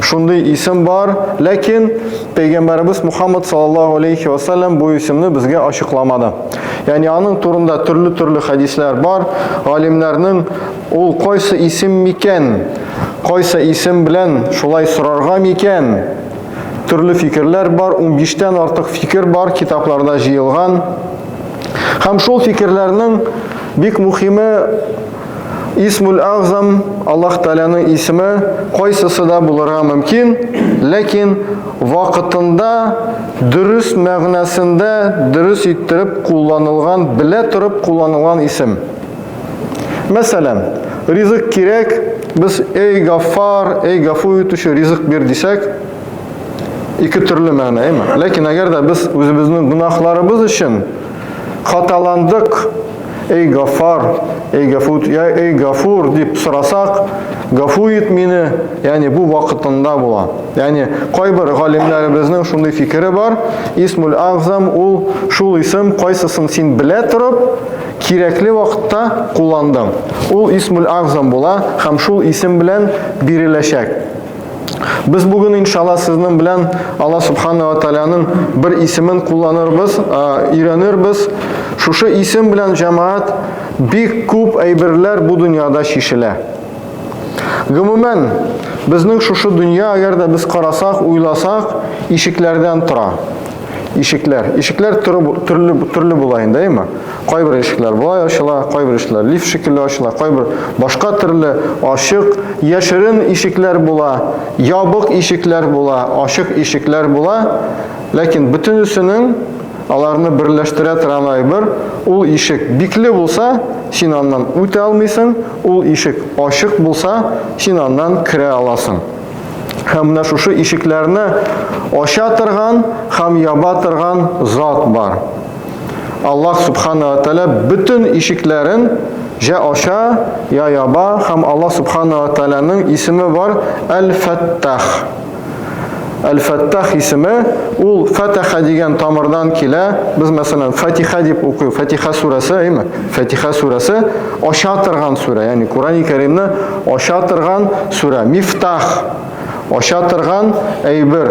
Шундый исем бар, ләкин пәйгамбәребез Мухаммад саллаллаһу алейхи ва саллям бу исемне безгә ачыкламады. Ягъни аның турында төрле-төрле хәдисләр бар. Галимнәрнең ул кайсы исем микән? Кайсы исем белән шулай сорарга микән? Төрле фикерләр бар, 15 тән артык фикер бар, китапларда җыелган. Һәм шул фикерләрнең бик мөхиме Исмул-Әгъзам, Аллаһ Тәгаләнең исеме, кайсысы да булырга мөмкин, ләкин вакытында дөрес мәгънәсендә дөрес иттереп кулланылган, белә торып кулланылган исем. Мәсәлән, ризык кирәк, без эй гаффар, эй гафу итүче, ризык бир дисәк, ике төрле мәгънә, әйме? Ләкин әгәр дә без үзебезнең гөнаһларыбыз өчен хаталандык, Эй Гафар, эй Гафут, я эй Гафур дип сорасак, гафу ит мине, ягъни бу вакытында була. Ягъни кайбер галимнәребезнең шундый фикере бар, Исмул Агзам ул шул исем, кайсысын син белә торып, кирәкле вакытта кулландың. Ул Исмул Агзам була һәм шул исем белән биреләчәк. Без бүген иншалла сезнең белән Алла Субхана ва Тааляның бер исемен кулланырбыз, өйрәнербез. Шушы исем белән җәмаат бик күп әйберләр бу дөньяда чишелә. Гомумән, безнең шушы дөнья, әгәр дә без карасак, уйласак, ишекләрдән тора. Ишекләр, ишекләр төрле төрле була инде, әйме? Кайбер ишекләр болай ачыла, кайбер ишекләр лифт шикелле ачыла, кайбер башка төрле ачык, яшерен ишекләр була, ябык ишекләр була, ачык ишекләр була. Ләкин бөтенесенең аларны берләштерә торган әйбер ул ишек бикле булса, син аннан үтә алмыйсың, ул ишек ачык булса, син аннан керә аласың. Һәм менә шушы ишекләрне ача торган һәм яба торган зат бар. Аллаһ Субхана ва Тәлә бөтен ишекләрен җә ача, я яба һәм Аллаһ Субхана ва Тәләнең исеме бар Әл-Фәттах. Әл-Фәттах исеме ул Фәтәха дигән тамырдан килә. Без мәсәлән Фатиха дип укый, Фатиха сүрәсе, әйме? Фатиха сүрәсе ача торган сүрә, ягъни Курани Кәримне ача торган сүрә. Мифтах ача торган әйбер.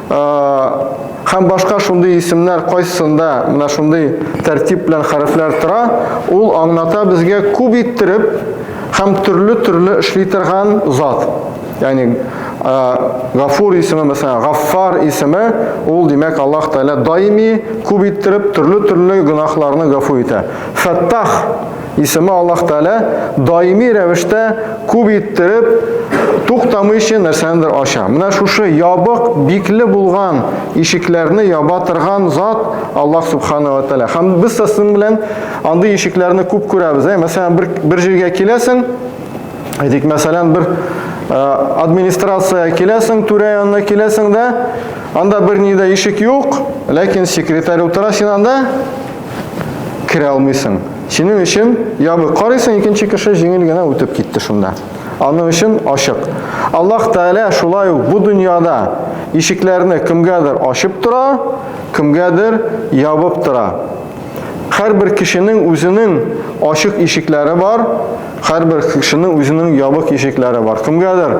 һәм башка шундый исемнәр кайсында менә шундый тәртип белән хәрефләр тора, ул аңлата безгә күп иттереп һәм төрле-төрле эшли торган зат. Ягъни Гафур исеме, мәсәлән, Гаффар исеме, ул димәк Аллаһ Тәгалә даими күп иттереп төрле-төрле гөнаһларны гафу итә. Фәттах Исеме Аллаһ Тәгалә даими рәвештә күп иттереп туктамыйча нәрсәнедер ача. Менә шушы ябык, бикле булган ишекләрне яба торган зат Аллаһ Субхана ва Тәгалә. Һәм без сезнең белән андый ишекләрне күп күрәбез. Ә? Мәсәлән, бер, бер җиргә киләсең, әйтик, мәсәлән, бер э, администрация киләсең, түрә янына киләсең дә, анда бер ни дә ишек юк, ләкин секретарь утыра, син анда керә алмыйсың. Синең өчен ябык. Карыйсың, икенче кеше җиңел генә үтеп китте шунда. Аның өчен ачык. Аллаһ Тәгалә шулай ук бу дөньяда ишекләрне кемгәдер ачып тора, кемгәдер ябып тора. Һәрбер кешенең үзенең ачык ишекләре бар, һәрбер кешенең үзенең ябык ишекләре бар. Кемгәдер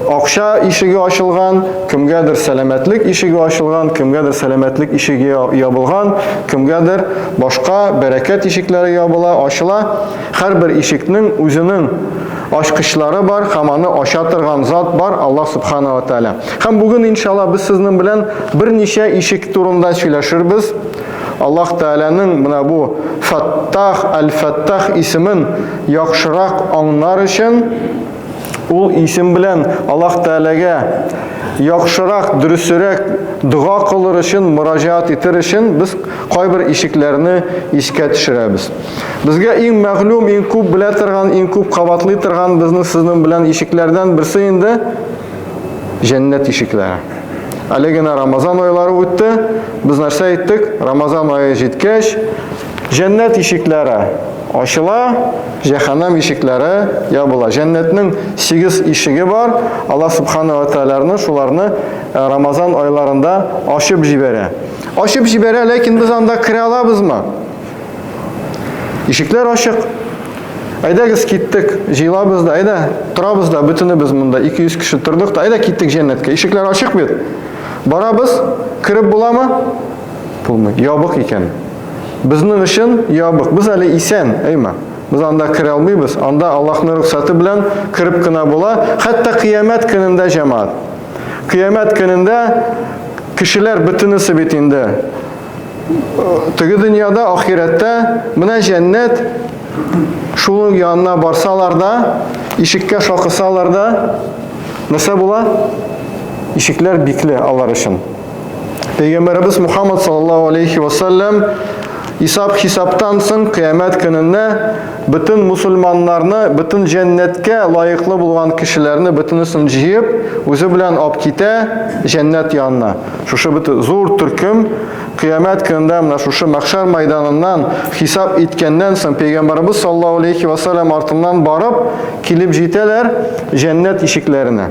Акча ишеге ачылган, кемгәдер сәламәтлек ишеге ачылган, кемгәдер сәламәтлек ишеге ябылган, кемгәдер башка бәрәкәт ишекләре ябыла, ачыла. Һәрбер ишекнең үзенең ачкычлары бар һәм аны ача торган зат бар, Аллаһ Субхана ва Тәгалә. Һәм бүген, иншалла, без сезнең белән берничә ишек турында сөйләшербез. Аллаһ Тәгаләнең менә бу Фаттах, Аль-Фаттах исемен яхшырак аңнар өчен Ул исем белән Аллаһ Тәгаләгә яхшырак, дөресерәк дога кылыр өчен, мөрәҗәгать итер өчен без кайбер ишекләрне искә төшерәбез. Безгә иң мәгълүм, иң күп белә торган, иң күп кабатлый торган безнең сезнең белән ишекләрдән берсе инде җәннәт ишекләре. Әле генә Рамазан айлары үтте. Без нәрсә әйттек? Рамазан ае җиткәч, Җәннәт ишекләре ачыла, җәһәннәм ишекләре ябыла. Җәннәтнең сигез ишеге бар. Аллаһ Субхана ва Тәгаләне шуларны э, Рамазан айларында ачып җибәрә. Ачып җибәрә, ләкин без анда керә алабызмы? Ишекләр ачык. Әйдәгез киттек, җыелабыз да, әйдә, торабыз да, бөтенебез монда 200 кеше тордык та, әйдә киттек җәннәткә. Ишекләр ачык бит. Барабыз, кереп буламы? Булмый. Ябык икән. Безнең өчен ябык. Без әле исән, әйма. Без анда керә алмыйбыз. Анда Аллаһның рөхсәте белән кереп кенә була. Хәтта кыямәт көнендә җәмаат. Кыямәт көнендә кешеләр бөтенесе бит инде теге дөньяда, ахирәттә менә җәннәт шул янына барсалар да, ишеккә шакысалар да, нәрсә була? Ишекләр бикле алар өчен. Пәйгамбәребез Мухаммад саллаллаһу алейхи ва саллям Исап хисаптан соң кыямәт көнендә бөтен мусульманнарны, бөтен җәннәткә лаеклы булган кешеләрне бөтенесен җыеп, үзе белән алып китә җәннәт янына. Шушы бит зур төркем кыямәт көнендә менә шушы мәхшәр майданыннан хисап иткәннән соң пәйгамбәрбез саллаллаһу алейхи ва саллям артыннан барып килеп җитәләр җәннәт ишекләренә.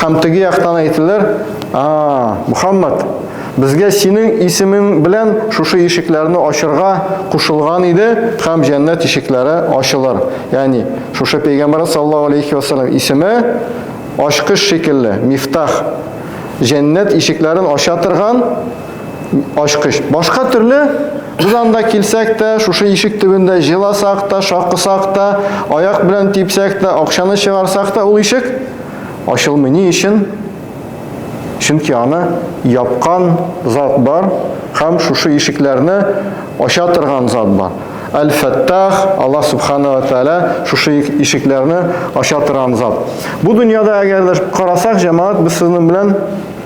Һәм теге яктан әйтелер, а, Мухаммад, безгә синең исемең белән шушы ишекләрне ачырга кушылган иде, һәм җәннәт ишекләре ачылыр. Ягъни, шушы пәйгамбәр саллаллаһу алейхи вәсәлләм исеме ачкыч шикелле, мифтах, җәннәт ишекләрен ача торган ачкыч. Башка төрле без анда килсәк тә, шушы ишек төбендә җыласак та, шакысак та, аяк белән типсәк тә, акчаны чыгарсак та, ул ишек ачылмый. Ни өчен? Чөнки аны япкан зат бар һәм шушы ишекләрне ача торган зат бар. Әл-Фәттах, Алла Субхана ва Тәәлә шушы ишекләрне ача торган зат. Бу дөньяда әгәр дә карасак, җәмаат без сезнең белән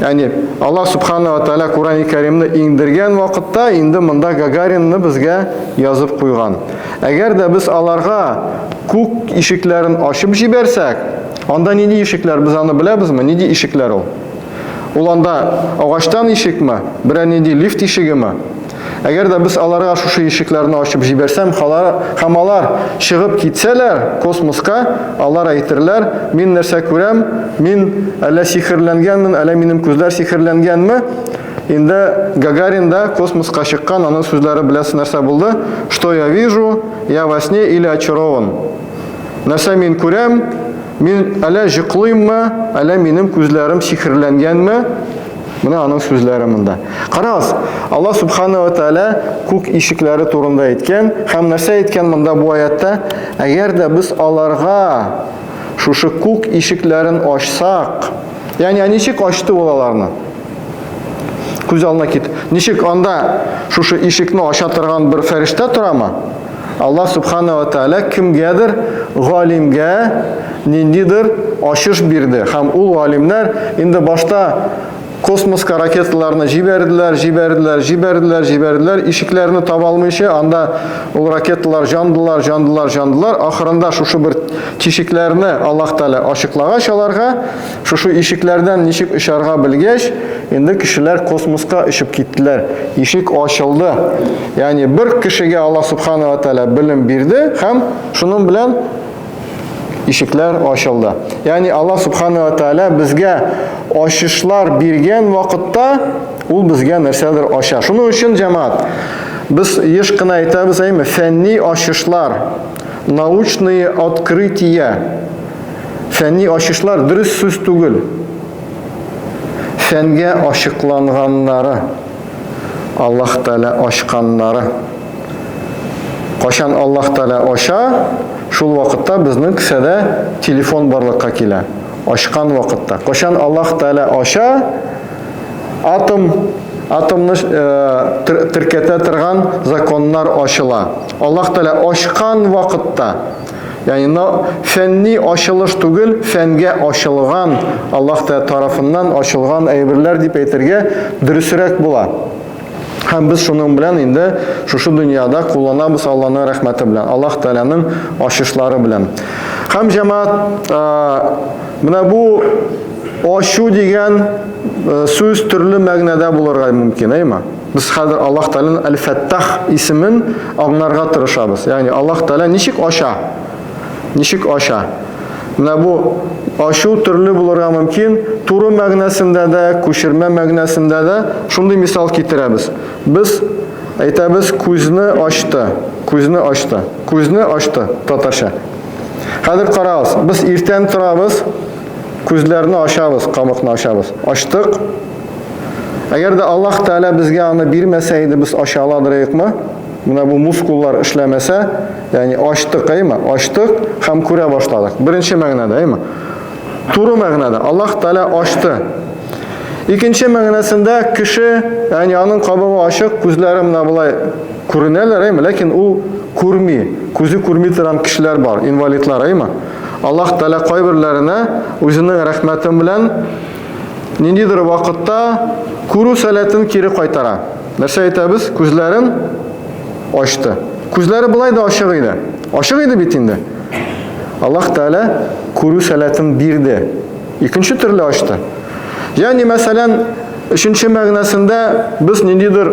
Яни Аллаһ субханала ва тааля Курани Кәримне иңдергән вакытта инде монда Гагаринны безгә язып куйган. Әгәр дә без аларга күк ишекләрен ачып җибәрсәк, анда нинди ишекләр без аны беләбезме? Нинди ишекләр ул? Ул анда агачтан ишекме? Берәр нинди лифт ишегеме? Әгәр дә без аларга шушы ишекләрне ачып җибәрсәм, һәм алар чыгып китсәләр космоска, алар әйтерләр, мин нәрсә күрәм, мин әллә сихерләнгәнмен, әллә минем күзләр сихерләнгәнме? Инде Гагарин да космоска чыккан, аның сүзләре беләсез нәрсә булды? Что я вижу? Я во сне или очарован? Нәрсә мин күрәм? Мин әллә җыклыйммы, әллә минем күзләрем сихерләнгәнме? Менә аның сүзләре монда. Карагыз, Аллаһ Субхану ва Тааля күк ишекләре турында әйткән һәм нәрсә әйткән монда бу аятта? Әгәр дә без аларга шушы күк ишекләрен ачсак, ягъни ә ничек ачты ул аларны? Күз алдына кит. Ничек анда шушы ишекне ача торган бер фәрештә торамы? Аллаһ Субхана ва Тәала кемгәдер галимгә ниндидер ачыш бирде. Һәм ул галимнәр инде башта космоска ракеталарны җибәрделәр, җибәрделәр, җибәрделәр, җибәрделәр, ишекләрне таба алмыйча, анда ул ракеталар жандылар, жандылар, жандылар. Ахырында шушы бер тишекләрне Аллаһ Тәала ачыклагач аларга, Шушы ишекләрдән ничек очарга белгәч, инде кешеләр космоска очып киттеләр. Ишек ачылды. Ягъни бер кешегә Аллаһ Субхана ва Тәгалә белем бирде һәм шуның белән ишекләр ачылды. Ягъни Аллаһ Субхана ва Тәгалә безгә ачышлар биргән вакытта ул безгә нәрсәдер ача. Шуның өчен җәмәгать без еш кына әйтәбез, әйме, фәнни ачышлар, научные открытия Фәнни ачышлар дөрес сүз түгел. Фәнгә ачыкланганнары, Аллаһ Тәгалә ачканнары. Качан Аллаһ Тәгалә ача, шул вакытта безнең кесәдә телефон барлыкка килә. Ачкан вакытта. Качан Аллаһ Тәгалә ача, атом атомны теркәтә торган законнар ачыла. Аллаһ Тәгалә ачкан вакытта Яни на фәнни ачылыш түгел, фәнгә ачылган, Аллаһ та тарафыннан ачылган әйберләр дип әйтергә дөресрәк була. Һәм без шуның белән инде шушы дөньяда кулланабыз Аллаһның рәхмәте белән, Аллаһ Тәгаләнең ачышлары белән. Һәм җәмаат менә бу ачу дигән сүз төрле мәгънәдә булырга мөмкин, әйма. Без хәзер Аллаһ Тәгаләнең Әл-Фәттах исемен аңларга тырышабыз. Ягъни Аллаһ Тәгалә ничек ача? Ничек ача? Менә бу ачу төрле булырга мөмкин. Туры мәгънәсендә дә, күчермә мәгънәсендә дә шундый мисал китерәбез. Без әйтәбез күзне ачты, күзне ачты, күзне ачты татарча. Хәзер карагыз, без иртән торабыз, күзләрне ачабыз, камыкны ачабыз. Ачтык, Әгәр дә Аллаһ Тәгалә безгә аны бирмәсә иде, без ача ала дырыкмы? Менә бу мускуллар эшләмәсә, ягъни ачтык, әйме? Ачтык һәм күрә башладык. Беренче мәгънәдә, әйме? Туры мәгънәдә Аллаһ Тәгалә ачты. Икенче мәгънәсендә кеше, ягъни аның кабыгы ачык, күзләре менә болай күренәләр, әйме? Ләкин ул күрми, күзе күрми торган кешеләр бар, инвалидлар, әйме? Аллаһ Тәгалә кайберләренә үзенең рәхмәте белән ниндидер вакытта күрү сәләтен кире кайтара. Нәрсә әйтәбез? Күзләрен ачты. Күзләре былай да ачык иде. Ачык иде бит инде. Аллаһ Тәгалә күрү сәләтен бирде. Икенче төрле ачты. Ягъни, мәсәлән, Өченче мәгънәсендә без ниндидер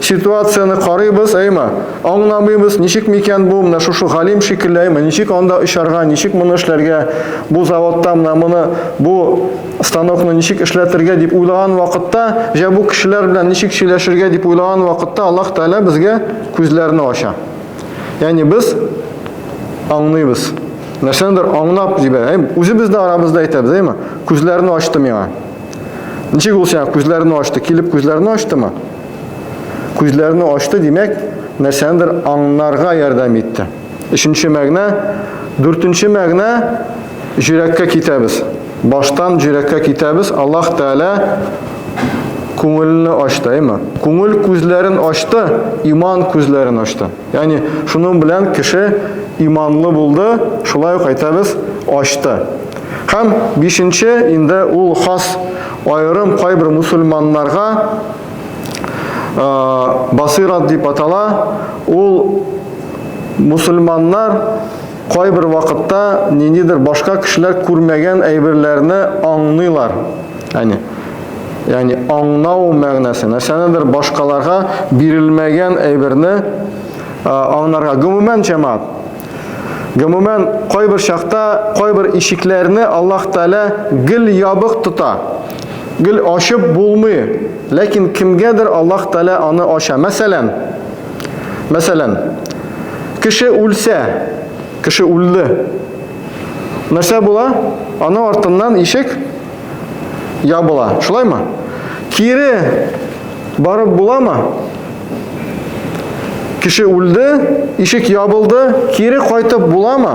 ситуацияне карыйбыз, әйме, аңламыйбыз, ничек микән бу, менә шушы галим шикелле, әйме, ничек анда очарга, ничек моны эшләргә, Бу заводта менә моны бу станокны ничек эшләтергә дип уйлаган вакытта, җә бу кешеләр белән ничек сөйләшергә дип уйлаган вакытта Аллаһ Тәгалә безгә күзләрне ача. Ягъни без аңлыйбыз. Нәрсәдер аңлап җибә. Әй, үзебез дә арабызда әйтәбез, әйме? Күзләрне ачты миңа. Ничек ул сиңа күзләрне ачты? Килеп күзләрне ачтымы? Күзләрне ачты, димәк, нәрсәдер аңнарга ярдәм итте. Өченче мәгънә, дүртенче мәгънә җөрәккә китәбез. Баштан җөрәккә китәбез. Аллаһ Тәгалә күңелне ачты, әйме? Күңел күзләрен ачты, иман күзләрен ачты. Ягъни шуның белән кеше иманлы булды, шулай ук әйтәбез, ачты. Һәм бишенче инде ул хас аерым кайбер мусульманнарга Басыйрат дип атала, ул мусульманнар кайбер вакытта ниндидер башка кешеләр күрмәгән әйберләрне аңлыйлар. Әне. Яни аңнау мәгънәсе. Нәрсәнедер башкаларга бирелмәгән әйберне аңнарга. Гомумән җәмаат. Гомумән кайбер чакта кайбер ишекләрне Аллаһ Тәгалә гел ябык тота. Гел ачып булмый, ләкин кемгәдер Аллаһ Тәгалә аны ача. Мәсәлән, мәсәлән, кеше үлсә, кеше үлде. Нәрсә була? Аны артыннан ишек ябыла. Шулаймы? Кире барып буламы? Кеше үлде, ишек ябылды, кире кайтып буламы?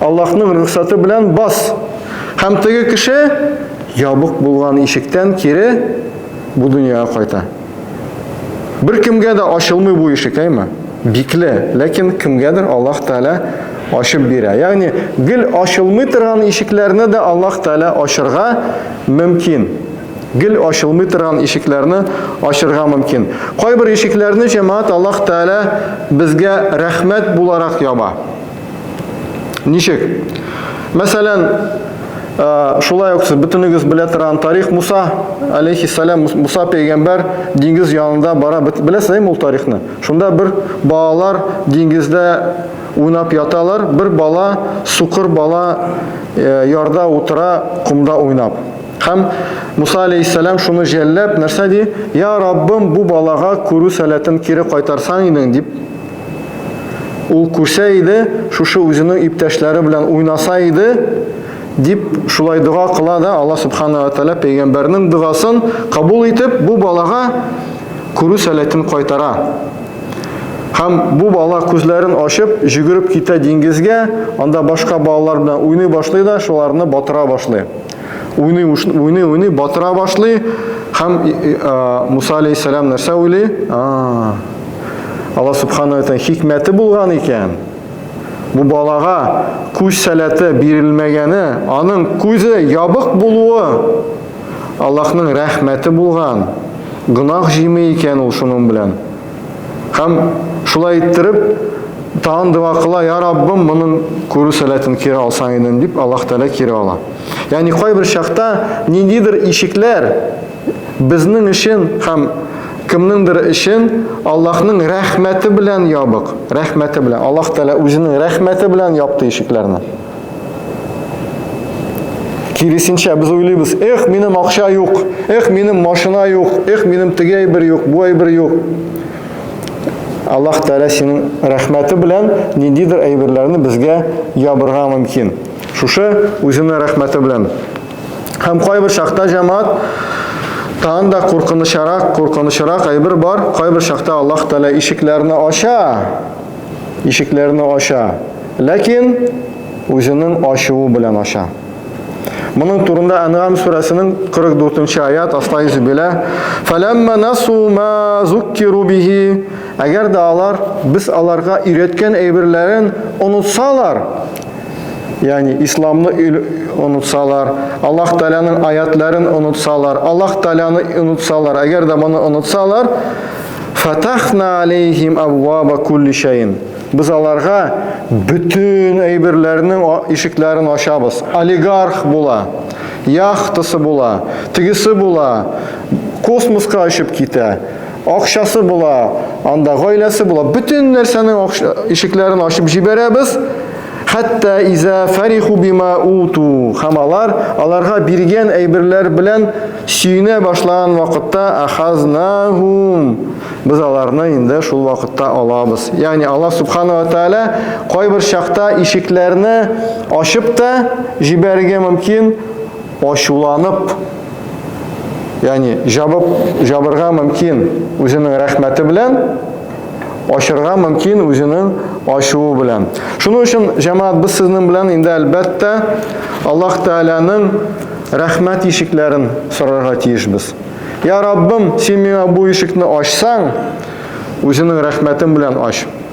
Аллаһның рөхсаты белән бас. Һәм теге кеше ябык булган ишектән кире бу дөньяга кайта. Бер кемгә дә ачылмый бу ишек, әйме? Бикле, ләкин кемгәдер Аллаһ Тәгалә ачып бирә. Ягъни гел ачылмый торган ишекләрне дә Аллаһ Тәгалә ачырга мөмкин. Гел ачылмый торган ишекләрне ачырга мөмкин. Кайбер ишекләрне җәмәгать Аллаһ Тәгалә безгә рәхмәт буларак яба. Ничек? Мәсәлән, шулай ук сез бөтенегез белә торган тарих Муса алейхиссалам, Муса пәйгамбәр диңгез янында бара, беләсез ул тарихны. Шунда бер балалар диңгездә уйнап яталар, бер бала, сукыр бала ярда утыра, кумда уйнап. Һәм Муса алейхиссалам шуны жәлләп, нәрсә ди? Я Раббым, бу балага күрү сәләтен кире кайтарсаң идең, дип Ул күрсә иде, шушы үзенең иптәшләре белән уйнаса иде, дип шулай дога кыла да Алла Субхана ва Тәлә пәйгамбәрнең догасын кабул итеп, бу балага күрү сәләтен кайтара. Һәм бу бала күзләрен ачып, җөгереп китә диңгезгә, анда башка балалар белән уйный башлый да, шуларны батыра башлый. Уйный, уйный, уйный, батыра башлый, һәм Муса алейхиссалам нәрсә уйлый? Алла субхана тәгалә хикмәте булган икән. Бу балага күз сәләте бирелмәгәне, аның күзе ябык булуы Аллаһның рәхмәте булган. Гынах җими икән ул шуның белән. Һәм шулай иттереп, тагын дога кыла, я Раббым, моның күрү сәләтен кире алсаң идем, дип Аллаһ Тәгалә кире ала. Ягъни кайбер чакта ниндидер ишекләр безнең өчен һәм кемнеңдер өчен Аллаһның рәхмәте белән ябык, рәхмәте белән. Аллаһ Тәгалә үзенең рәхмәте белән япты ишекләрне. Киресенчә без уйлыйбыз, эх, минем акча юк, эх, минем машина юк, эх, минем теге әйбер юк, бу әйбер юк. Аллаһ Тәгалә синең рәхмәте белән ниндидер әйберләрне безгә ябырга мөмкин. Шушы үзенең рәхмәте белән. Һәм кайбер шахта җәмәгать тан да куркынычарак, куркынычарак әйбер бар. Кайбер шахта Аллаһ Тәгалә ишекләрне ача. ишекләрне ача, ләкин үзенең ачуы белән ача. Моның турында Әнгам сүрәсенең 44-нче аят аста йөзе белә. Фәләммә насу ма зуккиру бихи. Әгәр дә алар без аларга өйрәткән әйберләрен онытсалар, ягъни исламны онытсалар, Аллаһ Тәгаләнең аятларын онытсалар, Аллаһ Тәгаләне онытсалар, әгәр дә моны онытсалар, Фатахна алейхим абваба кулли шәйин. Без аларга бөтен әйберләрнең ишекләрен ачабыз. Олигарх була, яхтасы була, тегесе була, космоска очып китә, акчасы була, анда гаиләсе була. Бөтен нәрсәнең ишекләрен ачып җибәрәбез. Хәтта иза фариху бима уту. Һәм алар аларга биргән әйберләр белән сөенә башлаган вакытта ахазнахум. Без аларны инде шул вакытта алабыз. Ягъни Аллаһ субхана ва тааля кайбер чакта ишекләрне ачып та җибәрергә мөмкин, ачуланып, яни җабып җабырга мөмкин үзенең рәхмәте белән, ачырга мөмкин үзенең ачуы белән. Шуның өчен җәмәгать без сезнең белән инде әлбәттә Аллаһ Тәгаләнең рәхмәт ишекләрен сорарга тиешбез. Я Раббым, син миңа бу ишекне ачсаң, үзенең рәхмәтең белән ач.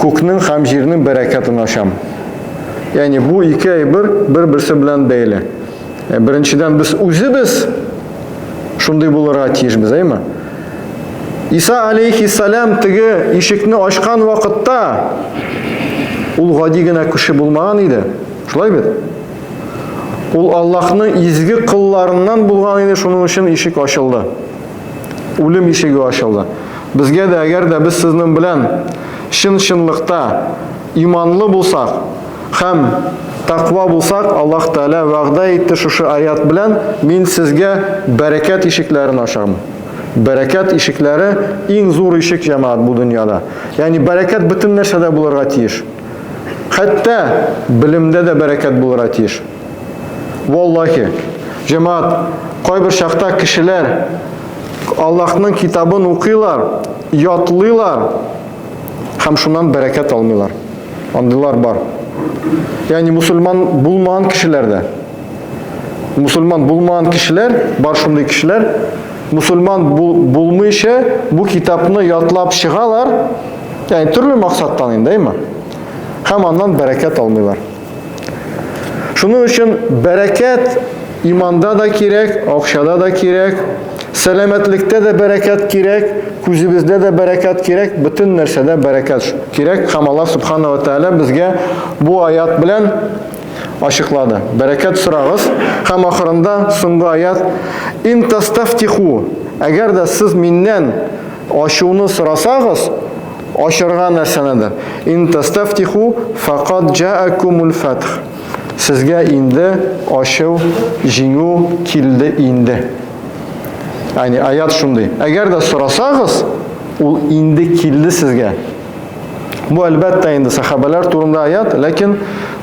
күкнең һәм җирнең бәрәкәтен ачам. Яни бу ике әйбер бер-берсе белән бәйле. Э, беренчедән без үзебез шундый булырга тиешбез, әйме? Иса алейхиссалам теге ишекне ачкан вакытта ул гади генә кеше булмаган иде. Шулай бит? Ул Аллаһның изге кылларыннан булган иде, шуның өчен ишек ачылды. Үлем ишеге ачылды. Безгә дә, әгәр дә без сезнең белән чын-чынлыкта иманлы булсак һәм тәкъва булсак, Аллаһ Тәгалә вәгъдә итте шушы аять белән, мин сезгә бәрәкәт ишекләрен ачармын. Бәрәкәт ишекләре иң зур ишек җәмәгать бу дөньяда. Ягъни бәрәкәт бөтен нәрсәдә булырга тиеш. Хәтта белемдә дә бәрәкәт булырга тиеш. Валлахи, җәмаат, кайбер чакта кешеләр Аллаһның китабын укыйлар, ятлыйлар һәм шуннан бәрәкәт алмыйлар. Андыйлар бар. Ягъни мусульман булмаган кешеләр дә. Мусульман булмаган кешеләр, бар шундый кешеләр, мусульман бул, булмыйча бу китапны ятлап чыгалар. Ягъни төрле максаттан инде, әйме? Һәм аннан бәрәкәт алмыйлар. Шуның өчен бәрәкәт иманда да кирәк, акчада да кирәк, сәламәтлектә дә бәрәкәт кирәк, күзебездә дә бәрәкәт кирәк, бөтен нәрсәдә бәрәкәт кирәк. Һәм Аллаһ Субхану ва Тааля безгә бу аят белән ачыклады. Бәрәкәт сорагыз һәм ахырында соңгы аят: "Ин тастафтиху" Әгәр дә сез миннән Ачуны сорасагыз, ачырга нәрсәнедер. Ин тастафтиху факад джаакумул фатх. Сезгә инде ачу, җиңү килде инде. Яни аят шундый. Әгәр дә сорасагыз, ул инде килде сезгә. Бу әлбәттә инде сахабәләр турында аят, ләкин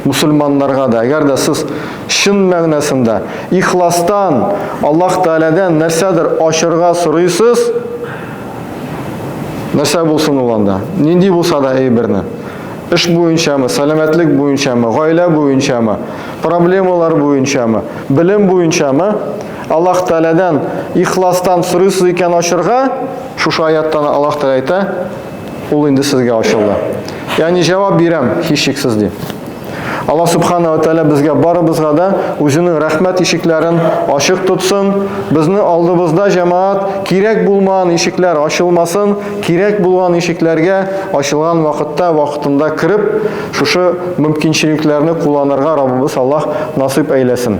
мусульманнарга да, әгәр дә сез чын мәгънәсендә ихластан Аллаһ Тәгаләдән нәрсәдер ашырга сорыйсыз, нәрсә булсын ул анда? Нинди булса да әйберне. Эш буенчамы, сәламәтлек буенчамы, гаилә буенчамы, проблемалар буенчамы, белем буенчамы, Аллаһ Тәгаләдән ихластан сорыйсыз икән ашырга, шушы аяттан Аллаһ Тәгалә әйтә, Ул инде сезгә ачылды. Ягъни җавап бирәм, һичшиксез ди. Алла субхана ва тәгалә безгә барыбызга да үзенең рәхмәт ишекләрен ачык тотсын. Безне алдыбызда җәмаат кирәк булмаган ишекләр ачылмасын, кирәк булган ишекләргә ачылган вакытта, вакытында кереп, шушы мөмкинчелекләрне кулланырга Раббыбыз Аллаһ насыйп әйләсен.